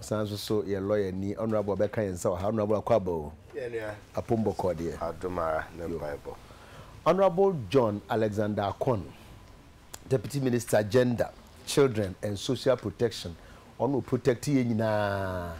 Ɔsan nso so yɛ lɔya ni ɔnorabu ɔbɛka yɛn nsa wɔ ha ɔnorabu akwaba o apom bɔkɔɔ deɛ. Adom ara ne mpaebɔ. Honourable John Alexander Akon, Deputy Minister Gender, Children and Social Protection, ɔno ɔprotect yɛn nyinaa,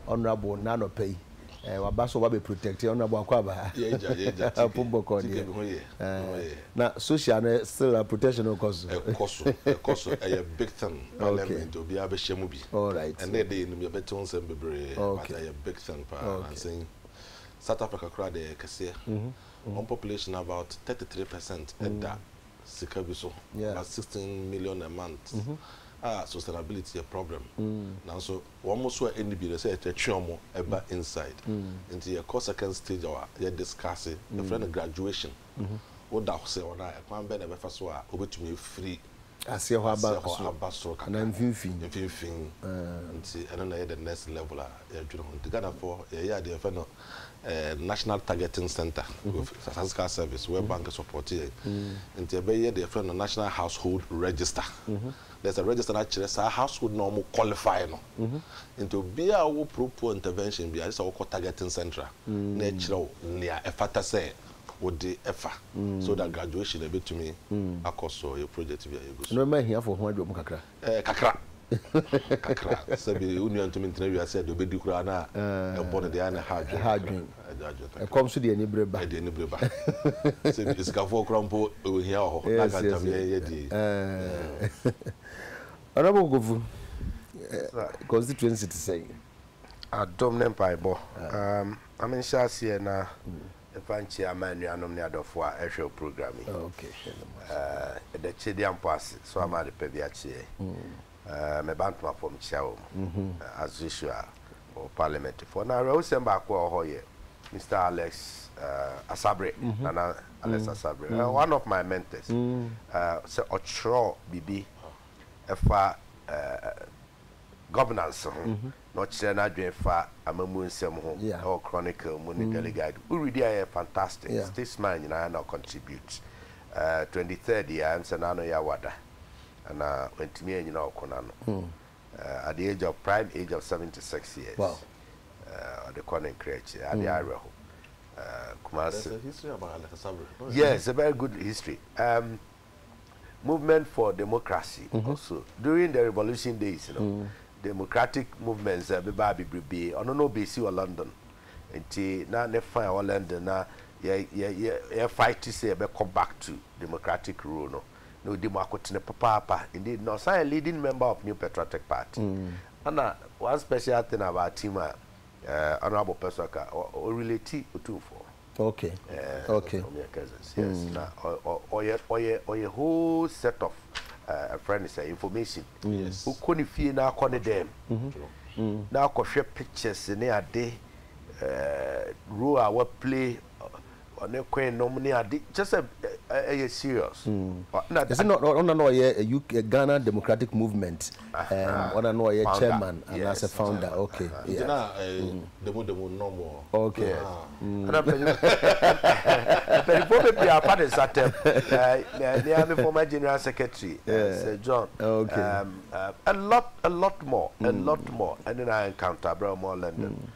Honourable, nnɛ anɔpa yi. Eh, waba so waba protect ɔno abo akɔ aba. Yɛ gya yɛ gya tike. Apo bɔkɔ deɛ. Tike bi ho yɛ. Eh, na social no still a protection no kɔ so. Ɛkɔ so ɛkɔ so ɛyɛ big thing parliament obiara bɛ hyɛ mu bi. Alright. Ɛnna ɛde yɛ nim yɛ bɛ te ho nsɛm bebree but ɛyɛ big thing paa nansa yi South Africa koraa deɛ ɛyɛ kɛseɛ wɔn population about thirty three percent ɛda sika bi so about sixteen million a month a sustainability yɛ problem nanso. Wɔn mo so a ɛnni bi no sɛ yɛtwe wɔn ba inside nti yɛkɔ second stage a yɛ discuss yɛfrɛ no graduation woda hɔ sɛ wɔn a ɛkwan bɛn na ɛbɛfa so a wobɛtumi afiri aseɛ hɔ aba soro kakra mfimfini nti ɛno na ɛyɛ the next level a yɛdwene ho nti Ghanafoɔ yɛyɛ adeɛ yɛfrɛ no national targeting center with statistical service where bank support yɛn nti ɛbɛyɛ deɛ yɛfrɛ no national household register there's a register na kyerɛ saa household na wɔn qualify no nti obiara a ɔwɔ pro poor intervention biara gye sɛ ɔkɔ targeting centre na ɛkyerɛ wo nea ɛfata sɛ wode ɛfa so that graduation na ɛbɛtumi akɔ so yɛ project bi a yɛgu so. Nneɛma ahiafo ho adwom kakra. Ɛɛ kakra kakra sɛbi wo nua ntumi ntena wiase a deɛ ɔbɛdi koraa na ɛbɔ no deɛ ɛyɛ a na ɛha adwene kakra. Ɛkɔm nso de anibere ba. Sɛ bi asikafoɔ koraa mpo ohia wɔ hɔ na anka ntam yɛn yɛ deɛ yi. Honourable Kofu, constituency te sɛn? Adom ne mpaebɔ. Ma me nhyɛ aseɛ na mfa nkyia m'anuanom ne adɔfoɔ a ɛhwɛ wo program yi. Yɛda Twedeampɔ ase so ama adepa bi akye yɛn. Meba ntoma fam kyia wɔn, as usual, wɔ Parliament foɔ. Na awerɛhosɛm baako a ɛwɔ hɔ yɛ Mister Alex Asabre, Nana Alex Asabre, one of my mentors. Sɛ ɔtwerɛ biribi fa governance ho, na ɔkyerɛ n'adwene fa amammuo nsɛm ho wɔ Chronicle mu ne Daily Guide, wo read a ɛyɛ fantastic. Statesman nyinaa na ɔcontribute. Twenty third yi ara, ɛnsɛ na ano yɛ awada. na wantumi annyina ɔko no ano. At the age of prime age of 76 years, ɔde kɔ ne nkra akyiri. Ade hmm. awerɛho. Kumasi. There's a history about Alex Asabere. No, yes, a very good history. Um, movement for democracy mm -hmm. also during the revolution days, you know. Mm. democratic movements ɛbɛba eh, bebrebe ɔno na ɔbɛsi wɔ london nti na ne fan wɔ london na yɛ yɛ yɛ yɛ fight sɛ yɛbɛkɔ back to democratic rule no na odi mu akotene papaapa. Indeed, na ɔsan yɛ leading member of New Patriotic Party. Ɛna one special thing about him a Honourable Pɛsoa ka, ɔ relate Otumfoɔ. Okay, okay. Wɔn yɛ cousins, yes. Na ɔyɛ ɔyɛ ɔyɛ whole set of ɛfrɛ no sɛ information. Yes. Wokɔ ne fie na akɔ ne dɛm. Na akɔhwɛ pictures ne ade, role a wa play Ɔne queen nom ne ade kyɛ sɛ ɛyɛ serious. Ɛsɛ na ɔna na ɔyɛ Ghana Democratic Movement ɔna na ɔyɛ chairman anaasɛ founder ok yeah. Na demu demu nom wɔ hɔ. Ok ɛna mpanyinfoɔ bebree afa ne nsa tɛm me ara me former general secretary Sir John a lot a lot more a lot more ɛne na encounter berɛ a wɔwɔ London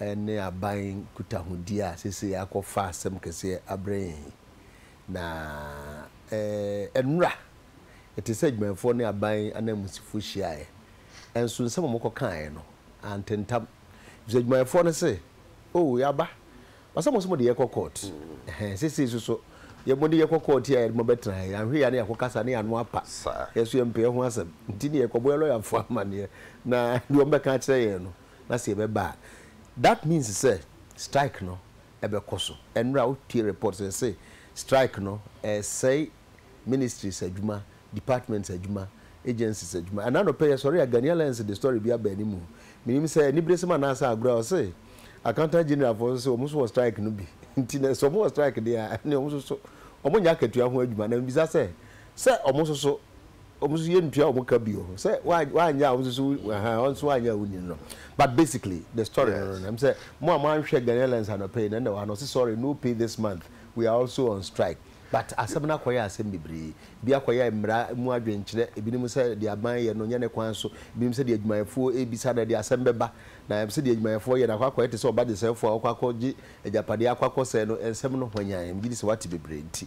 ne aban nkutahodi a seesei akɔfa asɛm kɛseɛ abrɛ yɛn yi. Na nnora ɛte sɛ adwumayɛfoɔ ne aban ananmusifoɔ hyiaeɛ, nso nsɛm a wɔkɔkaeɛ no antentam, efisɛ adwumayɛfoɔ no se, Oh, yɛaba. Wɔse mo nso mode yɛkɔ kɔɔt. Ɛhɛn, seesei nso so mode yɛkɔ kɔɔt yi a yɛde mo abɛtena ha yi, anhwɛ yie a na yɛakɔkasa ne yɛn ano apa. Yɛn nso yɛmpɛ ɛho asɛm, nti ne yɛkɔbɔ yɛn lɔyafoɔ amanneɛ, na deɛ wɔbɛka akyerɛ yɛn no, Na sɛ yɛbɛba a, that means sɛ strike no bɛkɔ so. Ɛnora wotie report sɛ yɛse strike no ɛresɛe ministries adwuma, departments adwuma, agencies adwuma. Ɛna anɔpɛ yɛsɔre a Ghanaian Alliance de story bi aba anim. Menim sɛ aniberesɛm anaasɛ agorɔ a ɔse Accountant General foɔ nso sɛ wɔn nso wɔ strike no bi. Nti na sɛ wɔn wɔ strike deɛ a ɛneɛ wɔn nso so wɔnyɛ akatua ho adwuma. Na mebisa sɛ Sɛ ɔmo nso so, ɔmo nso yɛn ntua ɔmo ka bio. Sɛ w'anyɛ a ɔmo nso so ahaa, ɔno nso w'anyɛ a wonni no. But basically the story no no, ɛm sɛ mo a mo anhwɛ Ghanaian Airlines anɔpa yi no ɛna ɛwɔ ha na ɔse sorry no pay this month, we are also on strike. But asɛm no akɔyɛ asɛm bebree. Ebi akɔyɛ mmara mu adwenkyerɛ, ebinom sɛ deɛ aban yɛ no nyɛ ne kwan so, ebinom sɛ deɛ adwumayɛfoɔ rebisa no ɛde asɛm bɛba. Na ɛm sɛ deɛ adwumayɛfoɔ yɛ no akɔ akɔyɛ te sɛ ɔbagyesɛefoɔ a ɔkɔ akɔgye agyapadeɛ akɔ akɔsɛe no, nsɛm no hwanyann. Megye di sɛ wate bebree nti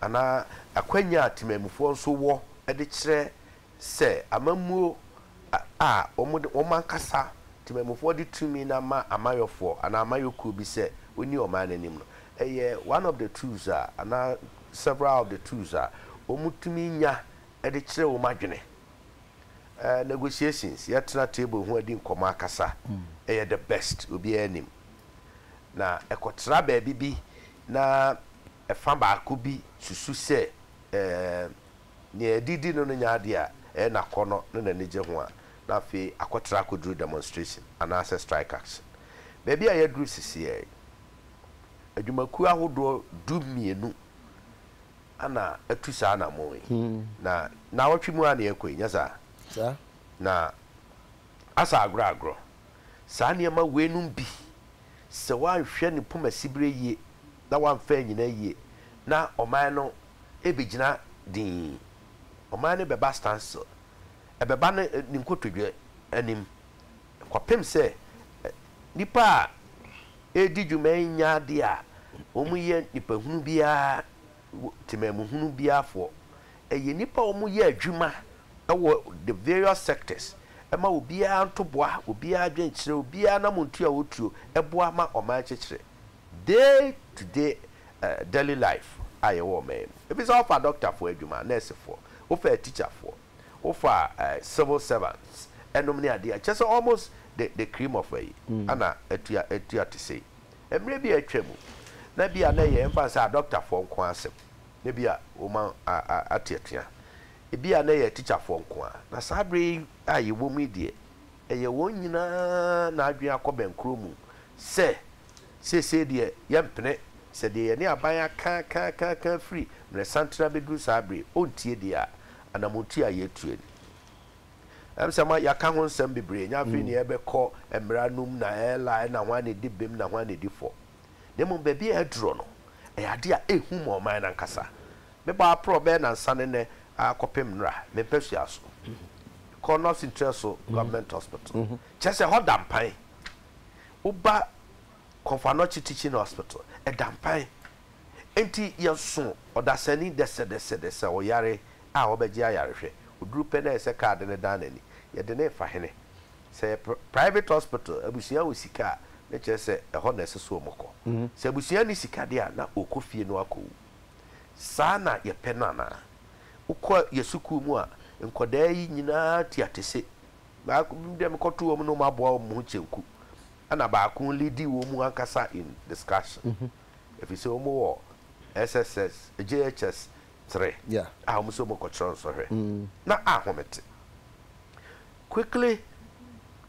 anaa akwanya a temanmufoɔ nso wɔ de kyerɛ sɛ amammuo a wɔde wɔn ankasa temanmufoɔ de tumi no ama amayɔfoɔ anaa amayɔkuo bi sɛ wɔnni ɔman no anim no yɛ one of the tools a anaa several of the tools a wɔtumi nya de kyerɛ wɔn adwene. Eh, negotiations, yɛtena table ho adi nkɔmmɔ akasa, ɛyɛ the best, obiara nim. Na ɛkɔtra baabi bi na Ɛfã baako bi susu sɛ, Ɛɛm, nea adidi no no nyɛ ade a ɛyɛ n'akɔnnɔ ne n'anigye ho a, na afei akɔtra akoduru demonstration anaasɛ strike action. Baabi a yɛaduru seseɛ yi, adwumakuo ahodoɔ du mmienu na atu saa anammɔn yi, na nnawɔtwe mu ara na yɛrekɔ yi, nyɛ saa? Na asa agorɔ agorɔ. Saa nneɛma weinom bi, sɛ woanhwɛ ne poma siberɛ yie na woamfa annyina yie na ɔman no ɛbɛgyina dinn. Ɔman no bɛba standstill. Ɛbɛba no ne nkotodwe anim. Kɔpem sɛ nnipa a ɛredi dwuma yi nya adeɛ a wɔyɛ nipahunu biara, temamuhunu biara foɔ Ɛyɛ nnipa a wɔyɛ adwuma wɔ the various sectors ma obiara ntoboa, obiara adwenkyerɛ, obiara anamontuo a ɔtuo boa ma ɔman kyekyere day to day daily life a yɛwɔ ɔman yi mu. Ɛfiri sɛ wofa dɔktafoɔ adwuma, nɛɛsefoɔ, wofa atikyafoɔ, wofa civil servants nom ne adeɛ a, kyerɛ sɛ almost the the cream of ayi ana atua atua te sei. Mmerɛ bi a atwa mu na bi a na ɛyɛ yɛmfa no sɛ adɔktafoɔ nko ara asɛm. na ebia wɔma ateatea. Ebia na ɛyɛ tikyafoɔ nko ara, na saa berɛ yi a yɛwom yi deɛ, ɛyɛ wɔn nyinaa na adwene akɔ bɛnkorɔ mu sɛ, Seesei deɛ, yɛmpene sɛ deɛ yɛne aban aka aka aka aka firi mmerɛsanten abɛduru saa berɛ yi, ɔntie deɛ a anammɔntuo a yɛretuo no. Ɛm sɛ ma yɛaka ho nsɛm bebree, ɛnyɛ afei na yɛrebɛkɔ mmara no mu na ɛla ɛna hwan na ɛdi bem na hwan na ɛdi fɔ. na mmom baabi a aduro no, ɛyɛ adeɛ a ɛhu ma ɔman no ankasa. Mebɔ aprɔ bɛyɛ nansa ne nnɛ ara kɔpem nnora, me mpasua so. Mekɔɔ North Ntraso Government Hospital, kyerɛ sɛ ɛhɔ da mpan. Woba Komfo Anokye Teaching Hospital, ɛda mpan. Enti yɛso ɔdasani dɛsɛdɛsɛdɛsɛ ɔyare a ɔbɛgye ayarehwɛ. Ɔduru pɛ na ayɛ sɛ kaa de no dan n'ani. Yɛde no refa hene. Sɛ ɛyɛ private hospital, abusua wɔ sika a, ne kyerɛ sɛ ɛhɔ na ɛsɛ sɛ wɔn kɔ. Sɛ abusua nni sika deɛ a, na ɔkɔ fie na wakɔ wu. Saa na yɛpɛ no anaa? Wokɔ yɛ sukuu mu a, nkwadaa yi nyinaa tua tese. Baako bi deɛ mekɔ to wɔn na wɔn aboa wɔn ho kyenku. Ɛna baako leadi wɔn mu ankasa in discussion. Ɛfiri sɛ wɔn wɔ SSS, JHS three a wɔn sɛ wɔn kɔ kyerɛ nsɔhwɛ. Na ahome te. Quickly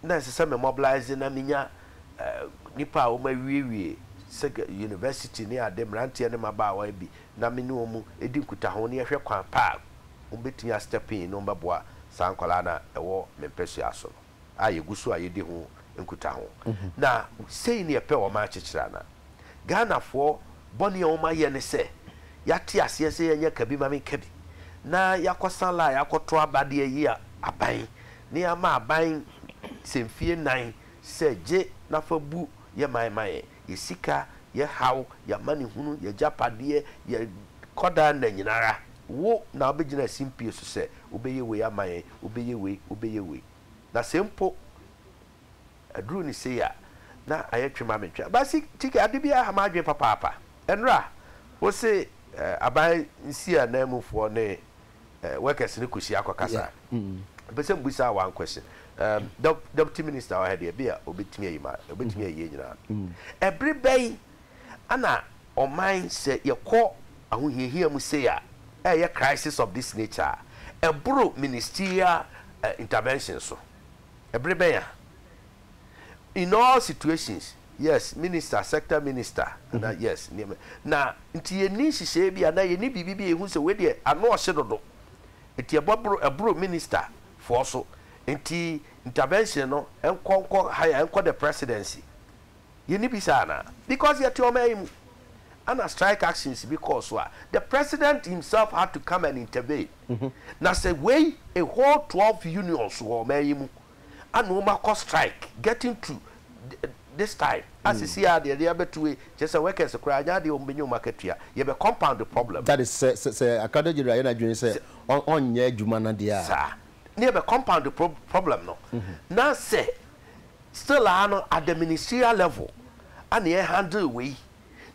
na ɛsɛ sɛ me mobilise na menya nnipa a wɔawiewie sɛ university ne ade, mmeranteɛ ne mmabaawa bi na me ne wɔn di nkutaho na yɛhwɛ kwan pa a wɔbɛtumi a step in na wɔbɛboa saa nkwadaa no a ɛwɔ me mpasua so no a yɛgu so a yɛdi ho nkutaho. Na sei ne yɛpɛ wɔn akyekyere anaa? Ghanafoɔ bɔne a wɔayɛ ne sɛ, yɛate aseɛ sɛ yɛnyɛ ka bi ma me nka bi, na yɛakɔsa line akɔto aba de ayi aban, na yɛama aban sɛ mfie nnan sɛ gye na fa bu yɛ man ma yɛn, yɛ sika, yɛ haw, yɛ amanehunu, yɛ agyapadeɛ, yɛ kɔdaa nna nyina ara. Wo na wobɛgyina simpie so sɛ wobɛyɛ wei ama yɛn, wobɛyɛ wei, wobɛyɛ wei. Na se mpo aduru ne sei a, na ayɛ twe ma me ntwe. Aban se, Chike, ade biara ha m'adwene papaapa. Ɛnora, wo se aban nsia nan mu foɔ ne workers no kɔhyia kɔkasa? Mepɛ sɛ mebusa wo one question. Deputy Minister wɔ ha deɛ, ɛbia ɔbɛtumi ayi ma, ɔbɛtumi ayi yɛn nyinaa. Ɛbere bɛn Ana ɔman sɛ yɛkɔ ahohiahia mu sei a ɛyɛ crisis of this nature a ɛboro ministerial intervention so? Ɛbere bɛn a in all situations yes minister sector minister anaa yes nneɛma na nti yɛnni nhyehyɛeɛ bi anaa yɛnni biribi bi a yɛhu sɛ wei deɛ ano ɔhye dodo nti ɛbɔboro ɛboro minister foɔ so nti intervention no ɛnkɔ nkɔ higher ɛnkɔ the presidency Yɛnni bi saa anaa? Because yɛte ɔman yi mu a na strike actions bi kɔɔ so a the president himself had to come and intervene. Na sɛ wei a whole twelve unions wɔ ɔman yi mu a na wɔn akɔ strike getting to this time a sisi a deɛ deɛ abɛto wei kyerɛ sɛ workers koraa nyɛ adeɛ a wɔn bɛnya wɔn akatua. Yɛbɛ compound the problem. That is sɛ sɛ sɛ accountant general yɛ n'adwene sɛ ɔnyɛ adwuma no deɛ a. Saa. Na yɛbɛ compound the pro problem no. Na sɛ Still aa no at the ministerial level a na yɛ handle wei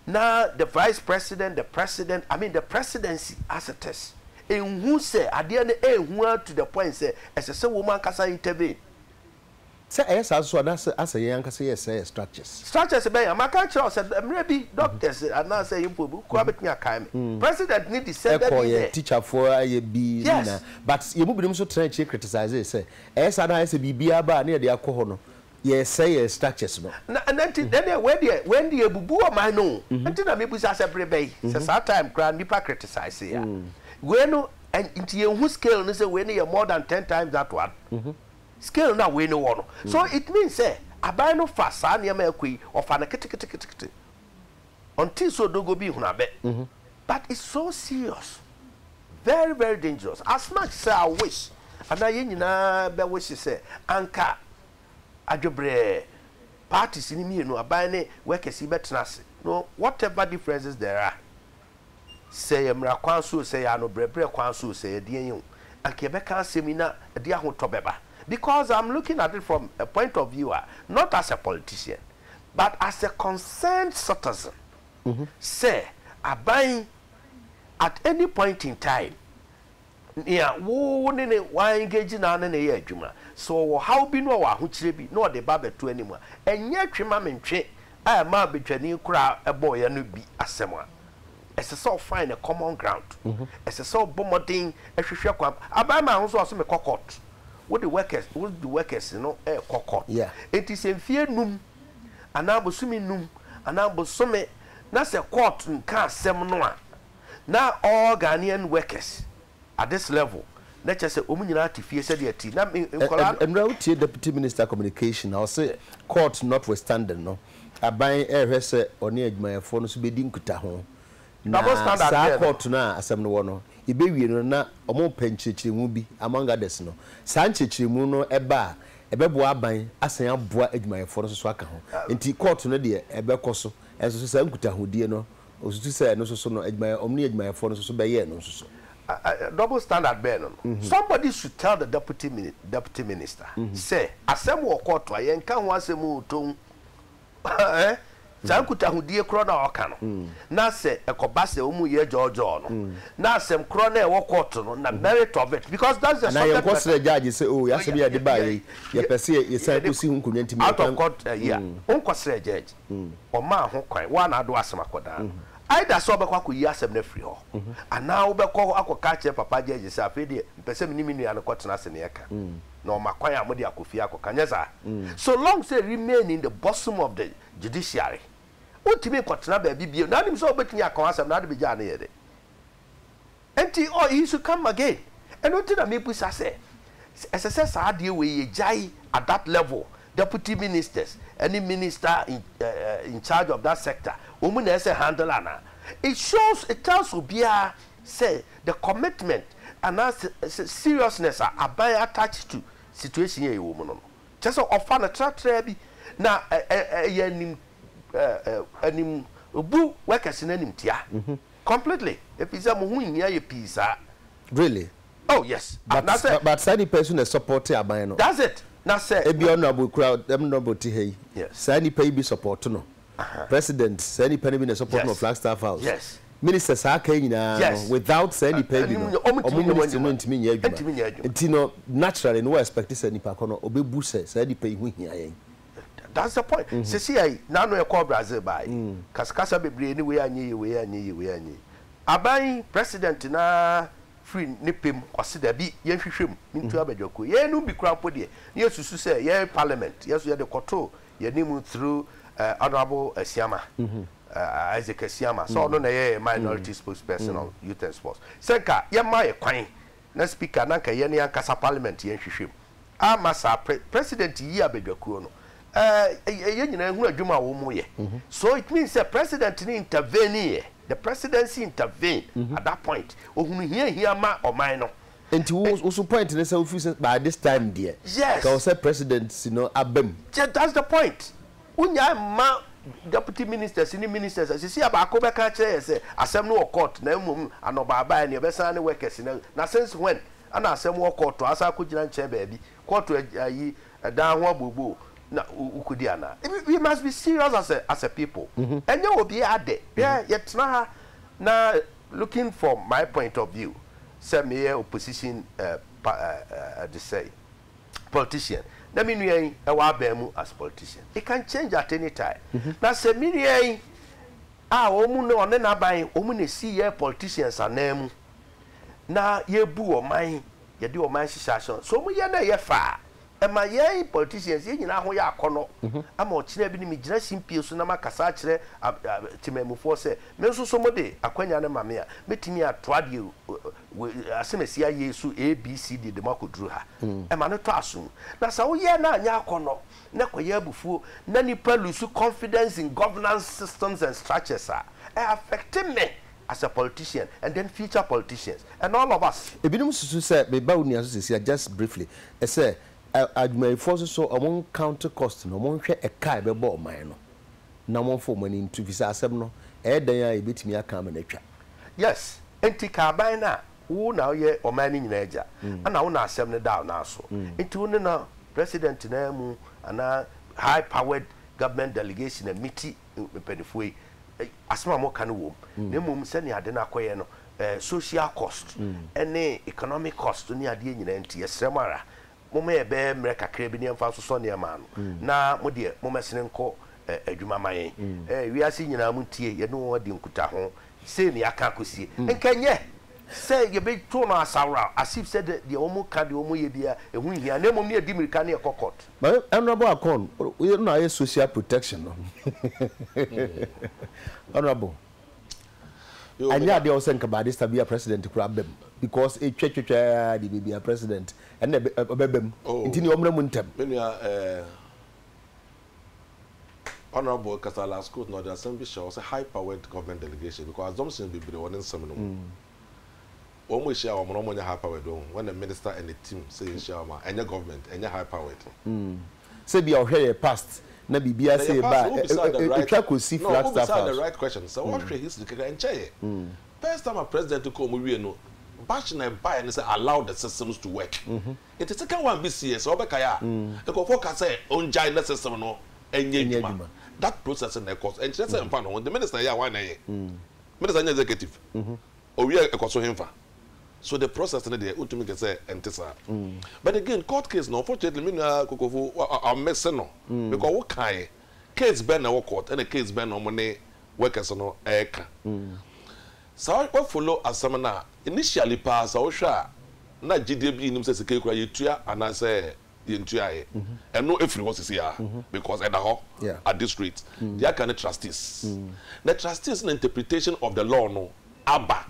na the vice president, the president, I mean the presidency as it is nhu sɛ adeɛ no ɛɛhu aa to the point sɛ ɛsɛ sɛ wɔn ankasa intervene. Sɛ ɛyɛ saa nso a na asɛ yɛn ankasa yɛ sɛɛ yɛ structures. Structures bɛn? A maka akyerɛ wo sɛ mmerɛ bi doctors anaa sɛ mpo obi koraa bɛtumi akae me president no descended in there. Ɛkɔɔ yɛn teacherfoɔ ayɛ bi ne nyinaa but yɛn mu binom nso tenaa akyire criticizee sɛ Ɛyɛ saa na ayɛ sɛ biribiara ba a na yɛde akɔ hɔ no, yɛresɛe yɛn structures no. Na ɛno nti, na ɛneɛ wei deɛ, wei ndeɛ abubu ɔman no o. Nti na mebisa sɛ bere bɛn, sɛ saa time koraa nnipa criticise a, wei no, nti yɛnhu scale no sɛ wei no yɛ more than ten times that one? Scale no a wei no wɔ no. So it means sɛ aban no fa saa nneɛma a ɛrekɔ yi, ɔfa no ketekete ketekete. ɔntee sɛ odogoo bi hunu abɛ but it's so serious very very dangerous as much sɛ I wish anaa yɛn nyinaa bɛ wish sɛ anka adwebrɛɛ parties no mmienu aban ne workers yi bɛ tena ase no whatever differences there are sɛ yɛ mmara kwan so o sɛ yɛ ano brɛbrɛ kwan so o sɛ yɛ deɛn o anka yɛ bɛ ka asɛm yi na ɛde ahotɔ bɛba because I'm looking at it from a point of view a not as a politician. But as a concerned citizen, sɛ aban yi at any point in time, nea wo ne no wa engage na wo ne no yɛ adwuma, sɛ ɔwɔ haw bi na ɔwɔ ahokyerɛ bi na ɔde ba abɛto anim a, ɛnyɛ twe ma mentwe a ɛmaa Badwani koraa bɔeɛ no bi asɛm a, ɛsɛ sɛ ɔfind a common ground, ɛsɛ sɛ ɔbɔ mmɔden hwehwɛ kwan, abarima a wo nso ɔse mekɔ court, wode workers, wode workers no ɛrekɔ court, enti sɛ mfeɛ num anaa bosome num anaa bosome na sɛ court nka asɛm no a, na all Ghanaian workers at this level na kyerɛ sɛ wɔn nyinaa te fie sɛdeɛ ɛte na me nkwadaa no. Ɛnora wotie Deputy Minister Communication a ɔse court notwithstanding no aban ɛrehwɛ sɛ ɔne adwumayɛfoɔ no nso bɛdi nkutaho na saa court no a asɛm no wɔ no yɛbɛwie no na wɔrepɛ nkyerɛkyerɛmu bi among others no saa nkyerɛkyerɛmu no ɛba a ɛbɛboa aban asan aboa adwumayɛfoɔ no nso so aka ho nti court no deɛ ɛbɛkɔ so nso so saa nkutahodie no Osusu sɛ ɛno nso so no, adwumayɛ, wɔn ne adwumayɛfoɔ no nso so bɛyɛ ɛno nso so. Double standard bɛn no no? Somebody should tell the deputy deputy minister sɛ, asɛm wɔ kɔɔto a, yɛnka ho asɛm oo, tɔn eh, saa nkutahodie korɔ no a ɔka no, na sɛ ɛkɔba sɛ wɔn yɛ gyɔɔgyɔɔ no, na asɛm korɔ no a ɛwɔ kɔɔto no, na merit of it, because that's the subject matter. Anaa yɛnkɔ srɛ judge sɛ, oo, yɛn asɛm yi a yɛde baeɛ yi, yɛpɛ sɛ yɛsan kɔsi ho nkonnwa nti, me yɛ kwan. Out of court, eh, yeah, wonkɔ srɛ judge. Ɔmaa ho kwan. Wo ara na wode w'asɛm akɔdan no. Either sɛ wobɛkɔ akɔyi asɛm no afiri hɔ, anaa wobɛkɔ hɔ akɔka akyerɛ Papa Gyɛɛgye sɛ, afei deɛ, mepɛ sɛ me ne me nua no kɔtena ase na yɛka, na ɔma kwan a mode akɔ fie akɔka. Nyɛ saa? So long sɛ remain in the bosom of the judiciary, wontumi nkɔtena baabi bio, na wonim sɛ wobɛtumi aka w'asɛm na wode bɛgyaa no yɛ dɛ. Enti, oh, he should come again. Ɛno nti na mebisa sɛ, ɛsɛ sɛ saa adeɛ wei yɛgyae at that level, deputy ministers ɛne minister in, uh, in charge of that sector, wɔn na ɛsɛ handle anaa? It shows, it tells obiara sɛ the commitment anaa seriousness a aban attach to situation a yɛwɔ mu no no, kyerɛ sɛ ɔfa no tratraa bi, na ɛyɛ anim, uh, uh, animbu workers no animtia. Mm-hmm. Completely, efisɛ mo ho nhia yɛ pii saa. Really? Oh yes, but na sɛ. But saa nipa yi nso na ɛsɔpɔte aban no. That's it, na sɛ. Ebia honourable kura honourable te ha yi. Yes. Saa nipa yi bi sɔpɔte no. Aha. President, saa nipa no bi na ɛsɔpɔte no wɔ Flagstaff House. Yes. Ministers saa aka yi nyinaa no. Yes. Without saa nipa yi bi no. Ɛnim nyɛ, wɔn ntumi nyɛ wɔn adwuma. Wɔn ministry no ntumi nyɛ adwuma. Ntumi nyɛ adwuma. Nti no, naturally no, wo expect sɛ nipa ko no, obebu sɛ saa nipa yi ho hia yɛn. That's the point. Mm-hmm. Sisi ayi, n'ano ɛkɔ Brazil baayi. Mm. Kasakasa bebree ne wei anyɛ yie, wei anyɛ yie, wei anyɛ yie. Aban yi, president na firi ne pɛ mu ɔse dabi, yɛnhwehwɛ mu, ne ntua mm. badwakuo. Yɛnom bi kura mpo deɛ, ne yɛsusu sɛ yɛn parliament, yɛso yɛde kɔto yɛne mu through uh, honorable Asiama. Mm -hmm. uh, Isaac Asiama. Sɛ ɔno na yɛ minority mm. spokesperson mm. on youth and sports. Sɛ nka yɛma yɛ kwan Na speaker na nka yɛne ankasa parliament yɛ nhwehwɛm ama saa pre president yi abadwakuo no ɛɛ yɛn nyinaa ehunu adwuma a wɔn yɛ so it means sɛ president no intervene yɛ the presidency intervene at that point ohunu hia hia ma ɔman no. Nti wo wo so point ne sɛ wofiri sɛ by this time deɛ yes ka wɔ sɛ presidency no aba mu. Yes that's the point Wonyae mma Deputy Ministers ne Ministers a sisi a baako bɛka akyerɛ yɛn sɛ asɛm no wɔ court na mmom anɔbaa baeɛ no yɛbɛsan ne workers no agu. Na since when na asɛm wɔ court a asan akɔgyina nkyɛn baabi, court ayi dan ho abooboo na wokɔdi anaa? We must be serious as a as a people. Ɛnyɛ obiara dɛ. Hwɛ yɛtena ha na looking for my point of view sɛ meyɛ opposition pa ɛɛ ɛɛ ɛdesɛe. politician na me nua yi ɛwɔ aban mu as politician it can change at any time na sɛ me nua yi a wɔn na ɔne n'aban wɔn na esi yɛ politicians anan mu na yɛbu ɔman yɛde ɔman hyehyɛ ahyɛ so wɔn yɛ na ɛyɛ fa a ɛma yɛn politicians yɛn nyinaa ho yɛ akɔnɔ ama ɔkyena bi ne me gyina simpie so na ma kasa akyerɛ temanmufoɔ sɛ me nso so mo de akwanya no ma me a mɛtumi atoa deɛ asɛm a ɛsi ayeɛ yi so A, B, C, D de mo akɔduru ha. Ɛma no tɔ asom. Na sɛ woyɛ na anyɛ akɔnnɔ, na ɛkɔyɛ abufuo, na nnipa lose confidence in governance systems and structures a, ɛ affect me as a politician and then future politicians and all of us. Ebinom susu sɛ, meba wo nua so sesia just briefly, sɛ adwumayɛfoɔ nso so wɔn count cost no, wɔnhwɛ ɛka a ɛbɛbɔ ɔman no. na momfa mo ani nto efisɛ asɛm no, ɛyɛ dɛn ara a yebetumi aka ama no atwa. Yes, enti ka aban no a wo na woyɛ ɔman no nyinaa agya, ɛna wo na asɛm no da wo nan so, enti wo ne no president no ara mu anaa high powered government delegation a me ti mpanyinfoɔ yi asɛm a moka no wom, na mmom sɛnea ade no akɔyɛ no social cost ne economic cost ne adeɛ nyinaa nti yɛsrɛ mo ara Momma yɛbɛyɛ mmerɛ kakra bi na yɛmfa nsosɔ nneɛma ano, na mo deɛ, mommɛsene nkɔ adwuma mma yɛn. Wiase nyinaa montie, yɛne wɔn adi nkutaho, sei na yɛaka akɔsie. Nka ɛnyɛ sɛ yɛbɛto no asaworaw, as if sɛ deɛ wɔka, deɛ wɔyɛ biara, ɛho nhia, na mmom ne yɛdi mmirika na yɛkɔ court. My honourable Akon, wo na woayɛ social protection no, honourable. Annyɛ ade a ɔwɔ sɛ nka Baadista bi a President kura ba mu because etwa twatwa ara deɛ baabi a President ɛna ɔbɛba mu nti nea ɔmmra mu ntɛm. Me nua eh, Honourable kasa last quote na ɔde asɛm bi hyɛ hɔ sɛ high powered government delegation because assumptions bebree wɔ ne nsɛm no mu. Wɔn mo hyia wɔn mo na wɔn mo nyɛ high powered wɔn hu when a minister and a team sɛ yɛn hyia wɔn a ɛnyɛ government ɛnyɛ high powered. Mm sɛ bia ɔhwɛ yɛ past na biribiara sɛ ɛba a ɛtwa kɔsi flat staff house. No, the right question. Sɛ wɔhwɛ mm. history kakra ɛnkyɛ yɛ. Mm. First time a president kɔ ɔmo wie no bash na ɛbaeɛ no sɛ allow the systems to work. Mm-hmm. Nti second one bi sie sɛ wɔbɛkae a mm. nkurɔfoɔ ka sɛ ɔngyae na system no ɛnyɛ adwuma. That process na ɛkɔ so. Ɛnkyerɛ sɛ mfa no ho. The minister yɛ a wɔn na ɛyɛ. Minister nyɛ executive. Mm-hmm. Owia a ɛkɔ so henfa? So the process no deɛ wotumi kɛ sɛ ɛnte saa? But again court case no unfortunately me nua Kokofo ɔmmese no because wo kaeɛ case bɛn na ɛwɔ court ɛna case bɛn na wɔn ne workers no ɛreka. Sa wo follow asɛm no a initially paa sa wohwɛ a na gyidie bi nnim sɛ sika yi koraa yɛtua anaasɛ Yɛntuaeɛ ɛno ɛfiri hɔ sisi aa because ɛda hɔ at this rate. Deɛ aka ne trustees na trustees na interpretation of the law no aba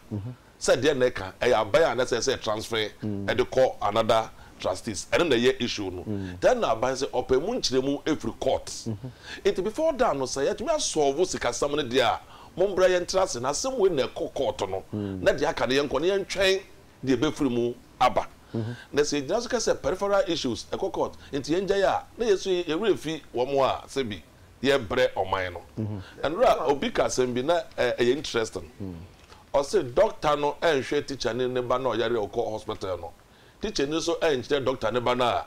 sɛ deɛ na ɛka ɛyɛ aban a na ɛsɛ sɛ ɛtransfer ɛde kɔ another trustees ɛno na ɛyɛ issue no then na aban sɛ ɔpɛ ɛmu nkyerɛmu ɛfiri court nti before that no sɛ yɛatumi a solve sikasɛm no deɛ a mommra yɛntra ase na asɛm wei na ɛkɔ court no na deɛ aka no yɛnkɔ na yɛntwɛn deɛ ɛbɛfiri mu aba. Na sɛ yɛgyina so ka sɛ peripheral issues, ɛkɔ court, enti yɛngyae a, na yɛn nso yɛn werɛ refi wɔn a sɛbi yɛrebrɛ ɔman no. Nnora a, obi ka asɛm bi na ɛyɛ interesting. Ɔse dɔkta no anhwɛ tikyani ne ba no a ɔyare a ɔkɔ hospital no, tikyani nso ankyerɛ dɔkta ne ba no a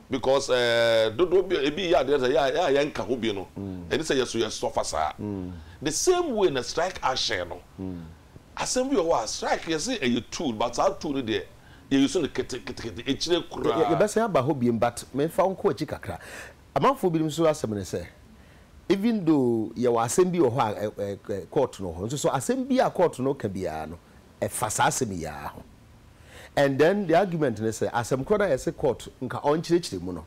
Because ɛɛ dodoɔ bi ebi yɛ adeɛ sɛ yɛ a yɛnka ho bi no ɛne sɛ yɛso yɛ suffer saa. The same way na strike action no asɛm bi wɔ hɔ a strike yɛse ɛyɛ tool but saa tool no deɛ yɛ use no kete kete kete akyire koraa. Yɛbɛsan aba hɔ biom but memfa wo nkɔ akyi kakra. Amanfoɔ binom nso asɛm ne sɛ even though yɛwɔ asɛm bi wɔ hɔ a court no wɔ hɔ nso so asɛm bi a court no ka biara no ɛfa saa asɛm yi ara ho. and then the argument ne sɛ asɛm korɔ no a yɛse court nka ɔnkyerɛkyerɛ mu no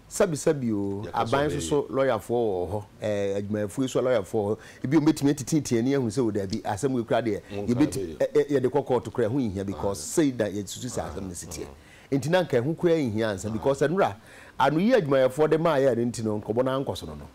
sɛbisɛbi oo aban nso so lɔyafoɔ wɔ hɔ ɛɛ adwumayɛfoɔ yi so lɔyafoɔ wɔ hɔ ebi wɔn bɛtumi atitiitii ani ahu sɛ o daabi asɛm wei koraa deɛ yɛbɛti ɛ ɛ yɛde kɔ court koraa ɛho nhia because sei na yɛsusu sɛ asɛm no si teɛ nti na nka ɛho koraa nhia ansa because nnora anoyi adwumayɛfoɔ de maaeɛ a ɛno nti no nkɔmmɔ no ankɔ so no no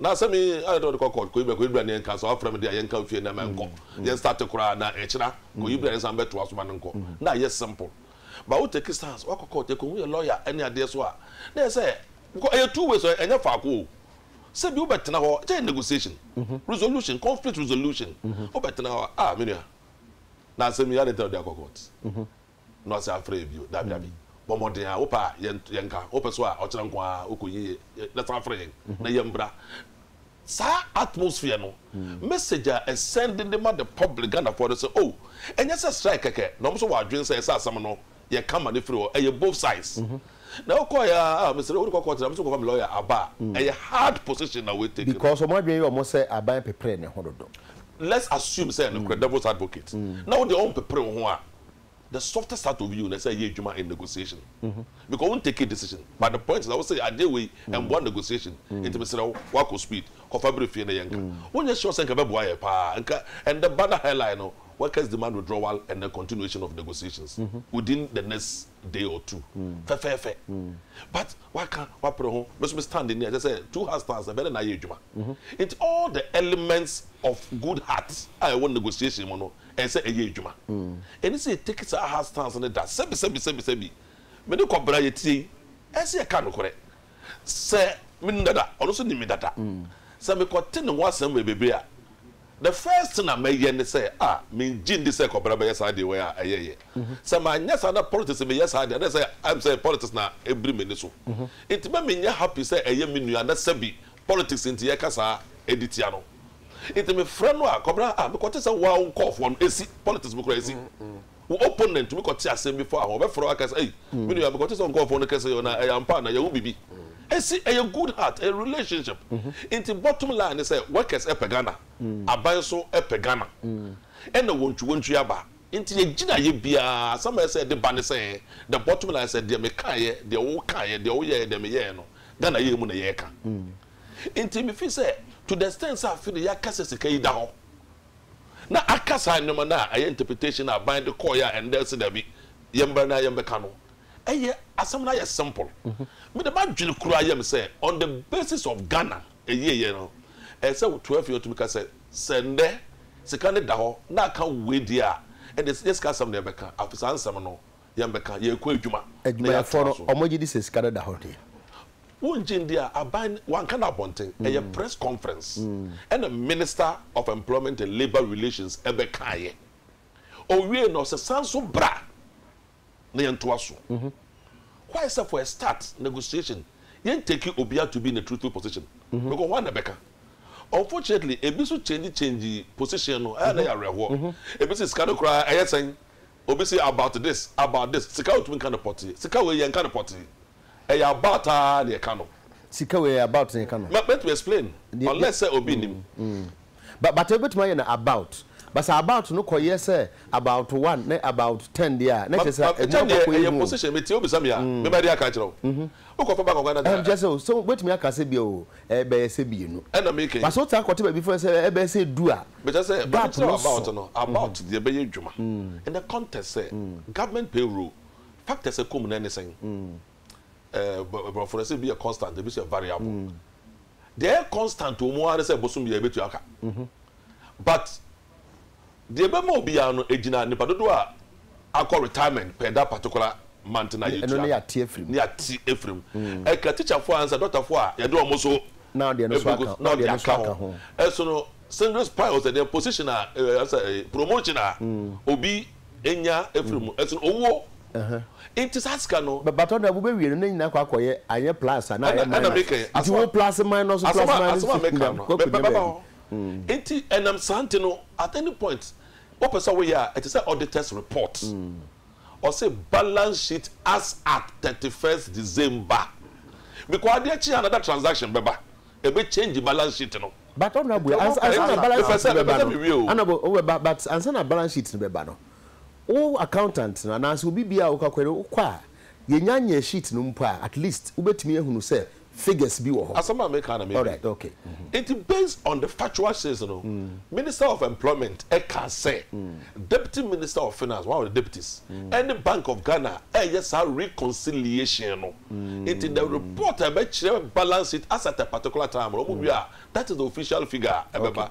Na sɛ me ayɛ dɛ ɔde kɔ court kɔyi bra kɔyi bra ne yɛnka sɛ wafrɛ me de a yɛnka mfie nnɛ ma ɛnkɔ yɛn start koraa na ɛkyena kɔyi bra yɛnsan bɛtoa so ma no nkɔ na ayɛ simple but wo take stance wakɔ court ɛkɔhu yɛ lawyer ɛne adeɛ so a na yɛ sɛ because ɛyɛ two ways ɛnyɛ faako o sɛ bi wobɛtena hɔ kyɛ yɛ negotiation mhm. resolution conflict resolution mhm. wobɛtena hɔ a ah, menua na asɛm yi ade ntina wode akɔ court mhm. na ɔasan afrɛ yɛ bio. Dabi, dabi. Bɔ mmɔden ara. Wopɛ a, yɛn, yɛnka. Wopɛ so a, ɔkyena nko ara wokɔ yie yɛ, yɛ, na san frɛ yɛn, na yɛmbra. Saa atmosphere no, message a ɛsɛnde de ma the public, Ghanafoɔ no, sɛ, Oh, ɛnyɛ sɛ strike kɛkɛ, na wɔn nso wɔ adwene sɛ ɛsɛ asɛm no, yɛka ma no firi hɔ. Ɛyɛ both sides. Na wokɔeɛ ara, ah, mesrɛ, worekɔ court no a, me nso mekɔfa me lawyer aba a, ɛyɛ hard position na wei take no. Because wɔn adwene yɛ wɔn sɛ aban pepere ne ho dodo. Let's assume sɛ nokorɛ, devil's advocate, na wo deɛ wɔmpepere wo ho a, the softest heart of you na ɛsɛ yɛ adwuma in negotiation because wo ntake decision but the point is that wo sɛ adeɛ wei ɛmboa negotiation nti mesrɛ wo woakɔ speed kɔfa bere fie na yɛ nka wonyɛ sure sɛ nka ɛbɛboa yɛ paa nka ɛndɛ ba na hairline no workers demand withdrawal and the continuation of negotiations within the next day or two fɛfɛɛfɛ but woaka woapere ho me so me stand ni a kyɛ sɛ two heart stands ɛbɛ ne na ayɛ adwuma nti all the elements of good heart a ɛwɔ negotiation mu no ɛyɛ sɛ ɛyɛ adwuma. Ɛni sɛ yɛ take saa hard stance no da, sɛbi sɛbi sɛbi sɛbi, me ne kɔbere a yɛ tie yi, ɛyɛ sɛ yɛ ka nokorɛ. Sɛ me nim dada, ɔno nso nim me dada. Sɛ me kɔ te ne ho asɛm wɔ bebree a, the first thing a mɛyɛ ne sɛ, ah, me ngye ndi sɛ kɔbere bɛyɛ saa deɛ wei a ɛyɛ yɛ. Sɛ ma nyɛ saa na politics me yɛ saa deɛ, na ɛyɛ sɛ ɛyɛ sɛ politics na ɛbiri m'ani so. Nti mɛ me nyɛ happy sɛ ɛyɛ me nua na sɛbi politics nti yɛ ka saa ɛdi tia no. Nti me frɛ no a kɔbra a me kɔ te sɛ wo a wo nkɔɔfoɔ no esi politics mu koraa esi wo opponent tumi kɔ te asɛm bi faa ho ɔbɛ frɛ wo aka sɛ ei me nua me kɔ te sɛ wo nkɔɔfoɔ no kɛse yɛ na ɛyɛ ampa anaa yɛ wo bibi esi ɛyɛ good heart ɛyɛ relationship nti bottom line ne sɛ workers ɛpɛ Ghana aban nso ɛpɛ Ghana ɛna wɔntwi wɔntwi aba nti yɛ gyinaeɛ biara asɛm a ɛsɛ ɛde ba ne sɛ the bottom line sɛ deɛ me kaeɛ deɛ wo kaeɛ deɛ wo yɛɛ deɛ me yɛɛ no Ghana yɛɛ mu na yɛɛka. Nti me feel sɛ to the extent sɛ afe no yɛaka sɛ sika yi da hɔ na aka saa nneɛma no a ɛyɛ interpretation a aban de kɔɔeɛ a ɛnnɛ ɛse daabi yɛmmra na yɛmbɛka no ɛyɛ asɛm no ayɛ simple. Me de m'adwene koraa yɛ me sɛ on the basis of Ghana ɛyieɛ no ɛyɛ sɛ woto afei atumi ka sɛ sɛ nnɛ sika no da hɔ na aka wei deɛ a ɛnde yɛ sika asɛm na yɛbɛka afe saa nsɛm no Yɛn bɛka, yɛrekɔ adwuma na yɛatoa so. Adwumayɛfoɔ no, wɔgye di sɛ sika no da hɔ he? Wongye ndi a, aban no wanka no abɔnten. Ɛyɛ press conference na Minister of Employment and Labour Relations bɛkaeɛ. Ɔwiee no, ɔsɛ san so bra na yɛntoa so. Why sɛ for a start negotiation, yɛntake obiara to be in a truthful position? Because hwan na ɛbɛka? Unfortunately, ebi nso change changee position no, ɛyɛ a na ɛyɛ awerɛhoɔ. Ebi se sika no koraa ɛyɛ sɛn? Obi se about this, about this, sika a otumi ka no pɔtee, sika wei yɛnka no pɔtee, ɛyɛ about ara na yɛka no. Sika wei ɛyɛ about na yɛka no. Mɛ mɛtumi explain unless sɛ obi nnim. Ba but wobɛtumi ayɛ no about, but sɛ about no kɔ yɛ sɛ about one ne about ten deɛ a na kyerɛ sɛ adwuma no kɔ akɔ yɛ hu o. Ɛkyɛ deɛ ɛyɛ position, metie wobisa me a, me mɛde aka akyerɛ wo. Wokɔ fa back ɔkwan na de a. Ɛnkyerɛ sɛ o, sɛ wobɛtumi aka sɛ bia o. ɛbɛyɛ sɛ mmienu. Ɛna me kɛn. Ba sɛ wotaa kɔte baabi fɛ sɛ ɛbɛyɛ sɛ du a, Mekyerɛ sɛ ba no gap kyerɛw no about so. no, about deɛ ɛbɛyɛ adwuma in the context sɛ government payroll factors a ɛkɔ mu no ɛne sɛn? Ɛɛ bɔ Aborɔfo no sɛ ebi yɛ constant, ebi nso yɛ variable. Deɛ ɛyɛ constant wɔ mu ara ne sɛ bosom biara ɛbɛtua ka but Deɛ ɛbɛma obiara no ɛgyina nnipa dodoɔ a akɔ retirement per that particular month no a yɛtua no na yɛate afiri mu. Ɛka tikyafoɔ a ansa dɔktafoɔ a yɛde wɔn nso ɛbɛgu na ɔde aka ho. Ɛsono singles piles ɛdeɛ position a ansa promotion a obi nya afiri mu. Ɛsono owuo. Nti saa sika no. But ɔda mo bɛwie no na nyinaa akɔ akɔyɛ anyɛ plus a na ayɛ minus. Ɛna meka yi. Nti wo plus minus plus minus. Asɛm a meka no bɛba hɔ. Nti ɛnam saa nti no at any point wopɛ sɛ woyɛ a ɛte sɛ auditors report. Ɔse balance sheet as at thirty first December because adeɛ kye a another transaction bɛba ɛbɛ change balance sheet no. But Honourable ansa na balance sheet no bɛba no Honourable wobɛba but ansa na balance sheet no bɛba no wo accountant no anaasɛ obi biaa a wokɔ akɔyɛ no wokɔ a yɛnya nyɛ sheet no mpo a at least wobɛtumi ahunu sɛ figures bi wɔ hɔ. Asɛm a meka na medi. Alright, okay. Nti based on the factual shares no, Minister of Employment ka sɛ Deputy Minister of Finance, one of the deputies, ɛne Bank of Ghana reyɛ saa reconciliation no. Nti the report a ɛbɛkyerɛ balance sheet as at a particular time no, wɔn wie a, that is the official figure a ɛbɛba.